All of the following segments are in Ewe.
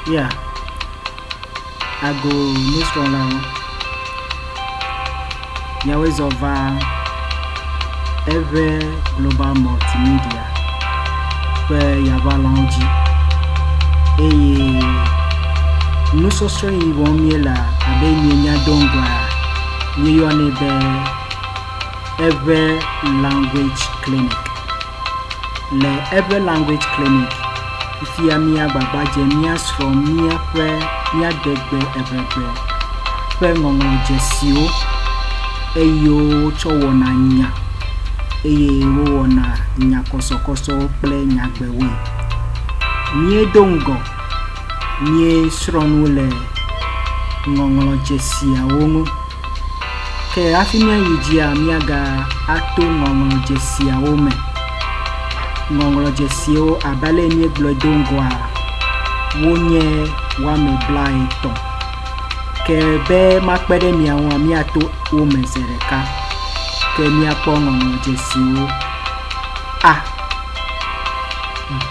Ya, ago nusrɔ̃lawo, miawoe zɔ va Eʋɛ Global Multimedia ƒe yaŋalɔ̃wo dzi eye nusɔsrɔ̃ yi wɔm míelea, abe mienya do ŋgɔa, míeyɔnɛ be eƒe Language Clinic. Le eƒe Language Clinic, fifia míagbagba dze míasrɔ̃ míaƒe míadegbe evegbe ƒe ŋɔŋlɔdzesiwo, eyiwo wotsɔ wɔna nya, eye wowɔna nyakɔsɔkɔsɔwo kple nyagbewoe. Míedo ŋgɔ míesrɔ̃ nu le ŋɔŋlɔdzesiawo ŋu. Ke hafi míayi dzia, míaga ato ŋɔŋlɔ dzesiawo me. Ŋɔŋlɔ dzesiwo abe ale míegblɔe do ŋgɔa, wonye woame blaetɔ̃. Ke be makpe ɖe mia ŋua, míato wo me ze ɖeka. Ke míakpɔ ŋɔŋlɔ dzesiwo. A. B.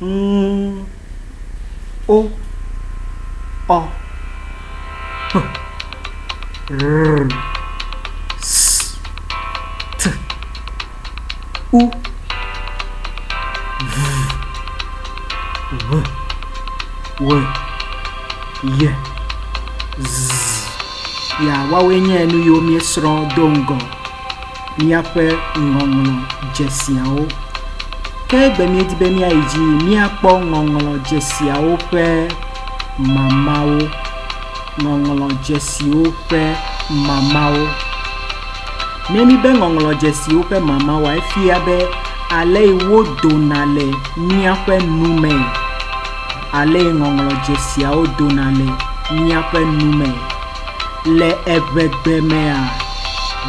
ŋu o. Ɔ. Ƒ. Ʋr. S. T. U. V. Ʋ. W. Y. Z. Ya, woawoe nye nu yiwo míesrɔ̃ do ŋgɔ míaƒe ŋɔŋlɔ dzesiawo. Ke be míedi be míayi dzi míakpɔ ŋɔŋlɔ dzesiawo ƒe mamawo. Ŋɔŋlɔ dzesiwo ƒe mamawo. Ne míbe ŋɔŋlɔ dzesiwo ƒe mamawoa, efia be ale yi wodona le míaƒe nu me, ale yi ŋɔŋlɔ dzesiawo dona le míaƒe nu me. Le eŋegbemea,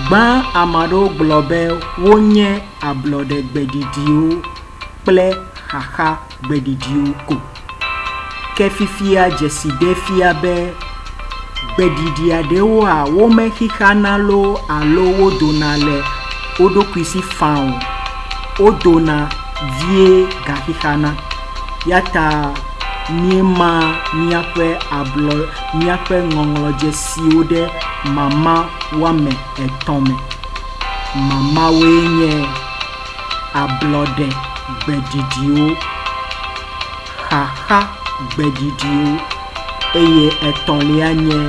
gbã ame aɖewo gblɔ be wonye ablɔɖe gbeɖiɖiwo kple xaxa gbeɖiɖiwo ko. Ke fifia dzesi ɖe fia be gbeɖiɖia ɖewoa womexixana loo alo wodona le wo ɖokui si faa o. Wodona vie gaxixana. Eya ta míema míaƒe ablɔ. míaƒe ŋɔŋlɔdzesiwo ɖe mama woame etɔ̃ me. Mamawoe nye, ablɔɖe gbeɖiɖiwo, xaxa gbeɖiɖiwo, eye etɔ̃lia nye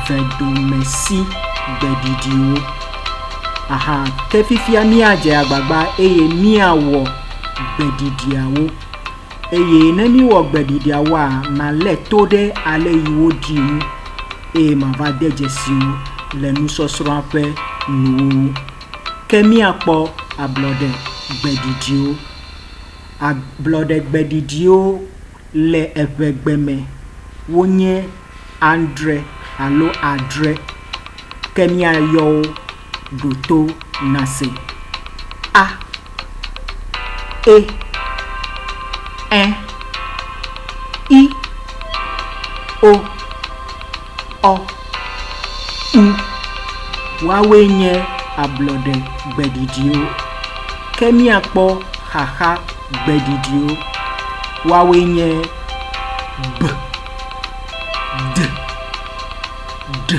vedomesi gbeɖiɖiwo. Aha, ke fifia míadze agbagba eye míawɔ gbeɖiɖiawo. Eye ne míwɔ gbe ɖiɖiawoa, malé to ɖe ale yi wodii ŋu eye mava de dzesi wo le nusɔsrɔ̃a ƒe nuwo ŋu. Ke míakpɔ ablɔɖe gbe ɖiɖiwo. Ablɔɖe gbe ɖiɖiwo le eŋegbe me wonye adre alo adre. Ke míayɔ wo ɖo to nase a, e, ẽ, i, o, ɔ, u. Woawoe nye ablɔɖe gbeɖiɖiwo. Ke míakpɔ xaxa gbeɖiɖiwo. Woawoe nye b, d, ɖ.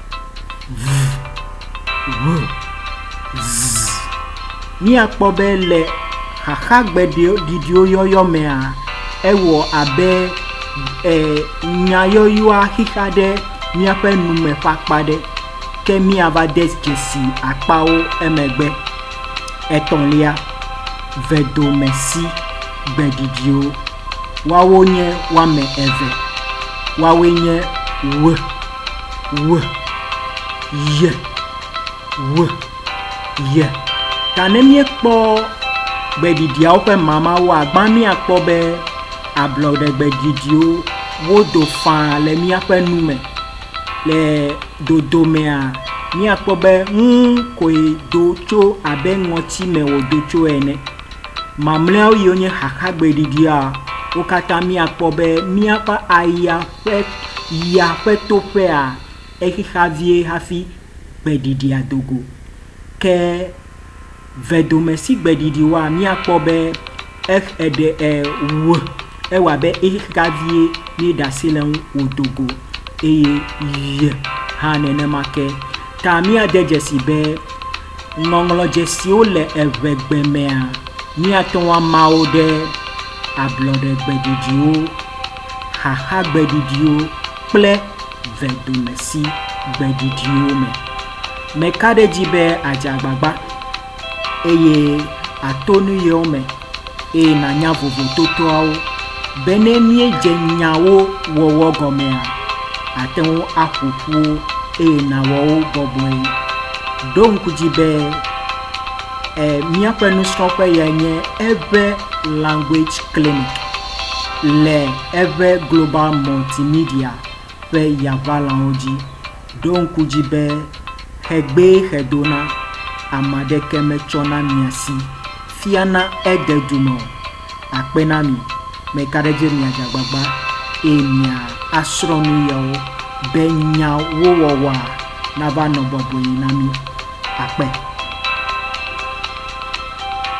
Ŋu, ŋu, zzz. Míakpɔ be le xaxagbeɖiɖiwo yɔyɔ mea, ewɔ abe e, nyayɔyɔa xixa ɖe míaƒe nume ƒe akpa ɖe, ke míava de dzesi akpawo emegbe. Etɔ̃lia, vedomesi gbeɖiɖiwo. Woawo nye woame eve. Woawoe nye ŋu. we, ye, we, ye. Ta ne míekpɔ gbeɖiɖiawo ƒe mamawo agbã míakpɔ be ablɔɖe gbeɖiɖiwo wodo faa le míaƒe nu me. Le dodomea, míakpɔ be ŋu koe do tso abe ŋɔti me wòdo tso ene. Mamlɛawo yiwo nye xaxa gbeɖiɖia, wo katã míakpɔ be míaƒe aya Ƒe yia ƒe toƒea exexa vie hafi gbeɖiɖia do go. Ke vedome si gbeɖiɖi wɔa, míakpɔ be ex eɖe e wu ewa abe exexa vie míeɖe asi le eŋu wòdo go eye y hã nenema ke ta míade dzesi be Ŋɔŋlɔ dzesiwo le eŋegbe mea, míate ŋu ama wo ɖe ablɔɖegbeɖiɖiwo, xaxagbeɖiɖiwo kple vedomesĩgbeɖiɖiwo me. Meka ɖe edzi be àdze agbagba eye àto nu yewo me. eye nànya vovototoawo. Be ne míedze nyawo wɔwɔ gɔmea, àte ŋu aƒo ƒu wo eye nàwɔ wo bɔbɔe. Ɖo ŋku dzi be e míaƒe nusrɔ̃ƒe yae nye eƒe Language Clinic le eƒe Global Multimedia ƒe yaʋalãwo dzi. Ɖo ŋku dzi be xegbee xedona ame aɖeke metsɔna mia si fiana ede du me o. Akpe na mi, mekaɖedzi miadze agbagba eye mia asrɔ̃ nu yawo be nyawo wɔwɔa nava nɔ bɔbɔe na mi. Akpe.